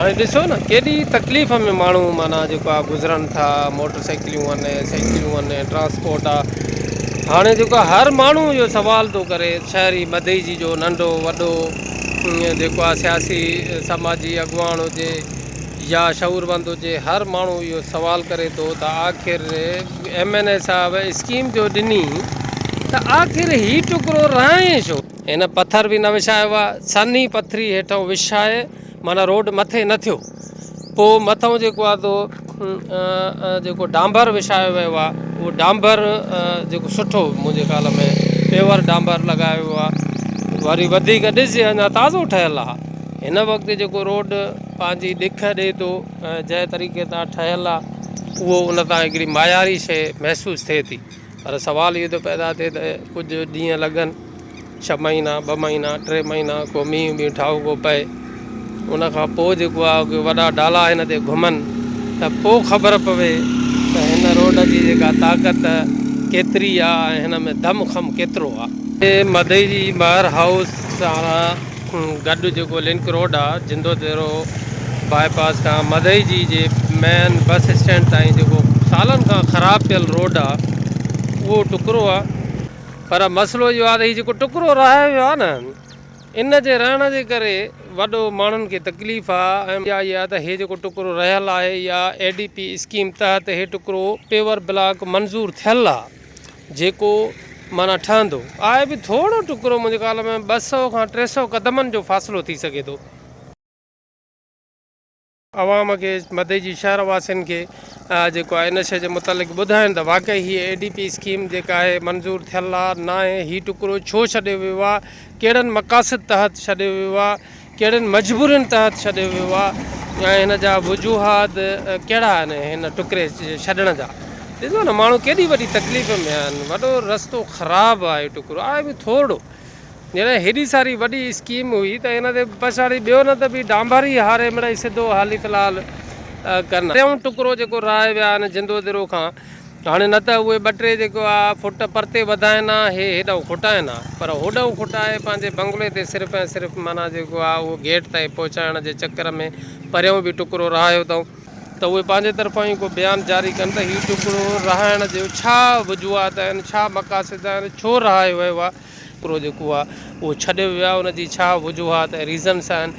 هاڻي ڏسو نه ڪيڏي تڪليف ۾ ماڻهو معنيٰ جيڪو آهي گذرن ٿا، موٽر سائيڪليون آهن، سائيڪليون آهن، ٽرانسپورٽ آهي، هاڻي جيڪو آهي هر ماڻهو اهو سوال ٿو ڪري شهري مدعيجي جو ننڍو وڏو جيڪو آهي سياسي سماجي اڳواڻ هجي يا شعوروند هجي هر ماڻهو اهو سوال ڪري ٿو ته آخر ايم اين اي صاحب اسڪيم جو ڏني ته آخر هي ٽڪرو رهائين ڇو؟ هن پٿر به نه وڇايو آهي، سنهي پٿري هيٺئون وڇائي معنيٰ روڊ مٿي نه ٿيو پوء مٿئون جيڪو آ سو جيڪو ڊانبر وشايو ويو آ اهو ڊانبر جيڪو سٺو منهنجي خيال ۾ پيور ڊانبر لڳايو ويو آ وري وڌيڪ ڏسجي اڃا تازو ٺهيل آ هن وقت جيڪو روڊ پنهنجي ڏک ڏي ٿو جنهن طريقي سان ٺهيل آ اهو ان سان هڪڙي معياري شي محسوس ٿئي ٿي پر سوال اهو ٿو پيدا ٿئي ته ڪجهه ڏينهن لڳن، ڇهه مهينا، ٻه مهينا، ٽي مهينا، ڪو مينهن وينهن ٺاهوڪو پئي، ان کان پوء جيڪو آهي ڪي وڏا ڊالا هن تي گهمن ته پوء خبر پوي ته هن روڊ جي جيڪا طاقت ڪيتري آهي ۽ هن ۾ دم خم ڪيترو آهي. مدئي جي مهر هائوس ساران گڏ جيڪو لنڪ روڊ آ جندو تيرو باء پاس کان مدئي جي جي مين بس اسٽينڊ تائين جيڪو سالن کان خراب پيل روڊ آ اهو ٽڪرو آ پر مسئلو اهو آ ته هي جيڪو ٽڪرو رهايو ويو آ نه ان جي رهڻ جي ڪري وڏو ماڻهن کي تڪليف آ ۽ اها آ ته هي جيڪو ٽڪرو رهيل آهي اها اي ڊي پي اسڪيم تحت هي ٽڪرو پيور بلاڪ منظور ٿيل آ. جيڪو معنيٰ ٺهندو آهي به ٿورو ٽڪرو منهنجي خيال ۾ ٻه سؤ کان ٽي سؤ قدمن جو فاصلو ٿي سگهي ٿو. عوام کي مدي جي شهر واسين کي جيڪو آهي ان شيء جي متعلق ٻڌائين ته واقعي هيء اي ڊي پي اسڪيم جيڪا آهي منظور ٿيل آهي ناهي هي ٽڪرو ڇو ڇڏيو ويو آهي ڪهڙن مقاصد تحت ڇڏيو ويو آهي ڪهڙين مجبورين تحت ڇڏيو ويو آ ۽ هن جا وجوهات ڪهڙا آهن هن ٽڪري ڇڏڻ جا ڏسو نه ماڻهو ڪيڏي وڏي تڪليف ۾ آهن وڏو رستو خراب آهي ٽڪرو آهي به ٿورڙو جڏهن هيڏي ساري وڏي اسڪيم هئي ته هن تي پڇاڙي ٻيو نه ته به ڊانڀر ئي هاري مڙئي سڌو حالي في الحال ڪن ٽيون ٽڪرو جيڪو راهي ويا آهن جندو درو کان هاڻي نه ته اهي ٻه ٽي جيڪو آ فٽ پرتي وڌائين ها هي هيڏانهن کوٽائين ها پر هوڏانهن کوٽائي پنهنجي بنگلي تي صرف ۽ صرف معنيٰ جيڪو آ اهو گيٽ تائين پهچائڻ جي چڪر ۾ پريون به ٽڪرو رهايو اٿئون ته اهي پنهنجي طرفان ئي ڪو بيان جاري ڪن ته هي ٽڪرو رهائڻ جي ڇا وجوهات آهن ڇا مقاصد آهن ڇو رهايو ويو آ ٽڪرو جيڪو آ اهو ڇڏيو ويو آ ان جي ڇا وجوهات ۽ ريزنس آهن.